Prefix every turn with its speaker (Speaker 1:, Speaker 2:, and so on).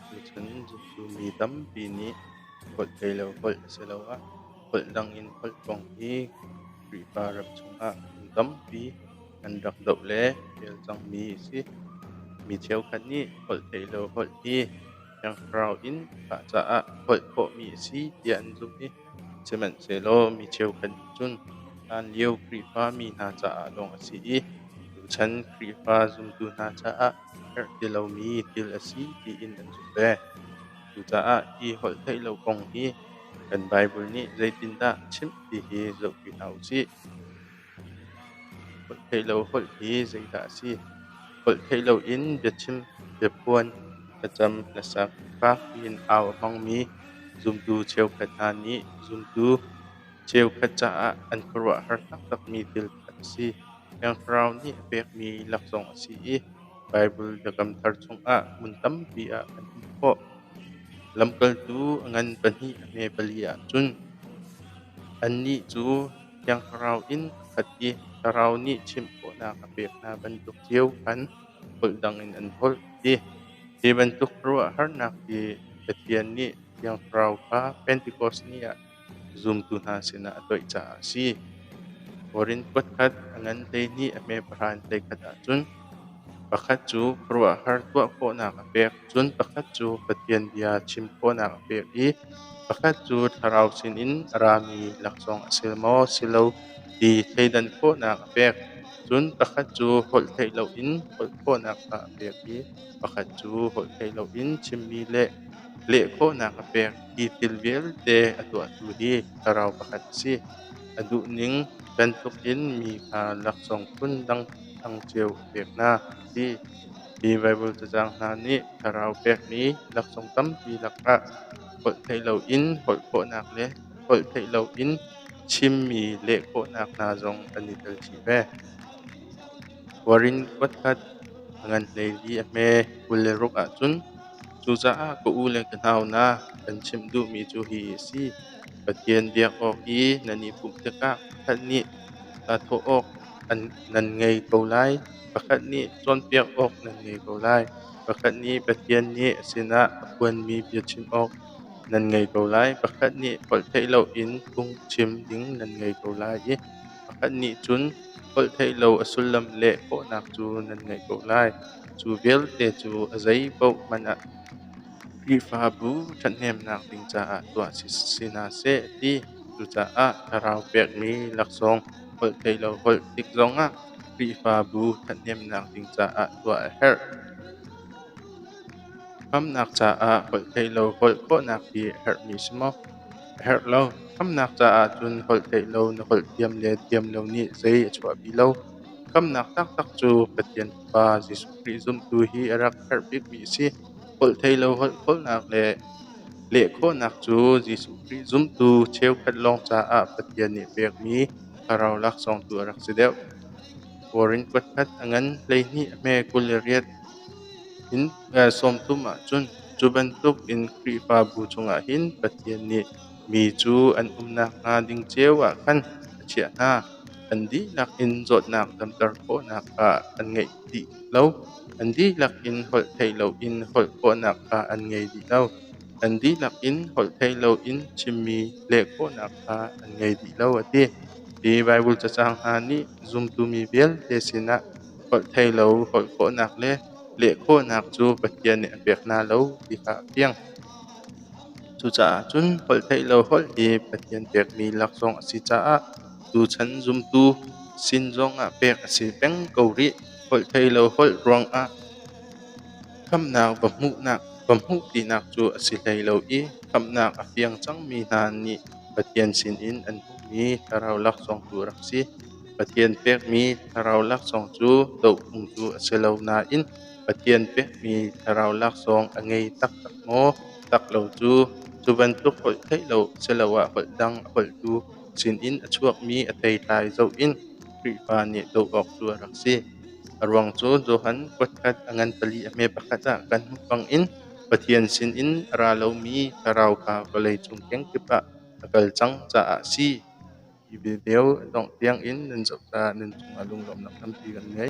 Speaker 1: Tuchan mi tampi nih holh ei le holh asiloah holh dang in holh kong hi Khrihfa ram chungah mi tampi an rak doh le rel cangmi a si. Mi cheukhat nih holh ei le holh hi Thiangthlarau in mah caah holh khawhmi a si tiah an zumh i sihmanhsehlaw mi cheukhat nih cun hlanlio Khrihfa mi hna caah lawng a si i tuchan Khrihfa zumtu hna caah herh ti lomi thil a si tiin an zumh ve. Cucaah hi holh theih lo kong hi kan Baibal nih zeitindah chimh ti hi zohpi hna u sih. Holh theih lo holh hi zeidah a si? Holh theih loin biachim, biaphuan, thlacam, hlasak, fak piin au a hmangmi zumtu cheukhat hna nih zumtu cheukhat caah an khuaruahhar taktakmi thil pakhat a si. Thiang Thlarau nih a pekmi laksawng a si i Baibal biakam thar chungah hmun tampi ah kan hmuh khawh. Lamkaltu a ngan pahnih a hme pali ahcun annih cu Thiangthlarau in a khat i Thlarau nih chimh khawhnak a pek hna bantuk cio khan holh dangin an holh, ti. Hi bantuk ruahharnak hi Pathian nih Thiangthlarau kha Pentekost ni ah zumtu hna sinah a toih caah a si. Korin khutkhat a ngan hleihnih a hme pahra in hleikhat ahcun pakhat cu khuaruahhar tuah khawhnak a pek Cun pakhat cu Pathian bia chim khawhnak a pek i pakhat cu thlarau sinin a rami laksawng a si maw si lo ti thleidan khawhnak a pek. Cun pakhat cu holh theih loin holh khawhnak kha a pek i pakhat cu holh theih loin chimmi le leh khawhnak a pek ti thil vialte a tuahtu hi thlarau pakhat a si. A duhning bantukin mi kha laksawng phundang cio a pek hna, a ti. Mi Baibal cacang hna nih thlarau pekmi laksawng tampi lakah holh theih loin holh khawhnak le holh theih loin chimmi leh khawhnak hna zong an i tel chih ve. Korin kuatkhat a ngan hlei i a hme kul le ruk ahcun cucaah ka u le ka nau na kan chimh duhmi cu hi a si: Pathian biak awk i nan i pumh tikah ṭhat nih tah thawh awk an nan ngei ko lai. Pakhat nih cawnpiak awk nan ngei ko lai. Pakhat nih Pathian nih a sinah a phuanmi bia chim awk nan ngei ko lai. Pakhat nih holh theih loin phungchim ding nan ngei ko lai i pakhat nih cun holh theih lo a sullam leh khawhnak cu nan ngeih ko lai. Cu vialte cu a zeipaoh hmanh ah Khrihfabu ṭhathnemnak ding caah tuah si si hna seh a ti. Cucaah thlarau pekmi laksawng holh theih lo holh tik zongah Khrihfabu ṭhathnemnak ding caah tuah a herh. Khamhnak caah holh theih lo holh khawhnak hi a herhmi si maw? A herh lo. Khamhnak caah cun holh theih lo na holh thiam le thiam lo nih zei a chuahpi lo. Khamhnak taktak cu Pathian Fapa Jesuh Khrih zumtu hi a rak herh bikmi a si. Holh thei lo holh khawlnak le leh khawhnak cu Jesuh Khrih zumtu cheukhat lawng caah Pathian nih pekmi Thlarau laksawngtu a rak si deuh. Kawrin kuatkhat a ngan hleihnih hme kul i riat in sawmthum ahcun cu bantuk in Khrihfabu chungah hin Pathian nih mi cu an um nakhnga ding cio ah khan a chiah hna. An dihlak in zawtnak damter khawhnak kha an ngei dih lo. An dihlak in holh theih loin holh khawhnak kha an ngei dih lo. An dihlak in holhthei loin chimmi leh khawhnak kha an ngei dih lo a ti. Hi Baibal cacang hna nih zumtumi vialte sinah holhtheilo holh khawhnak le leh khawhnak cu Pathian nih a pek hna lo ti kha a fiang. Cucaah cun holhtheihlo holh hi Pathian pekmi laksawng a si caah tuchan zumtu sin zongah pek a si peng ko rih. Holhtheihlo holh ruangah Khamhnak va hmuhpinak cu a si hlei lo i khamhnak a fiang cangmi hna nih Pathian sinin an hmuhmi thlarau laksawng tu rak si. Pathian pekmi thlarau laksawng cu dohphung tu a si lo nain Pathian pekmi thlarau laksawng a ngei taktak maw? Tak lo cu. Cu bantuk holh theih lo siloah holh dang a holhtu sinin a chuakmi a theitlai zoh in Khrihfa nih doh awk cu a rak si. A ruang cu Johan kutkhat a ngan pali a hme pakhat ah kan hmuh bangin Pathian sinin a ra lomi thlarau kha vawleicung kengkip ah a kal cang caah a si ti ve deu dongh tiangin nan zoh caah nan cungah lunglawmhnak tampi kan ngei.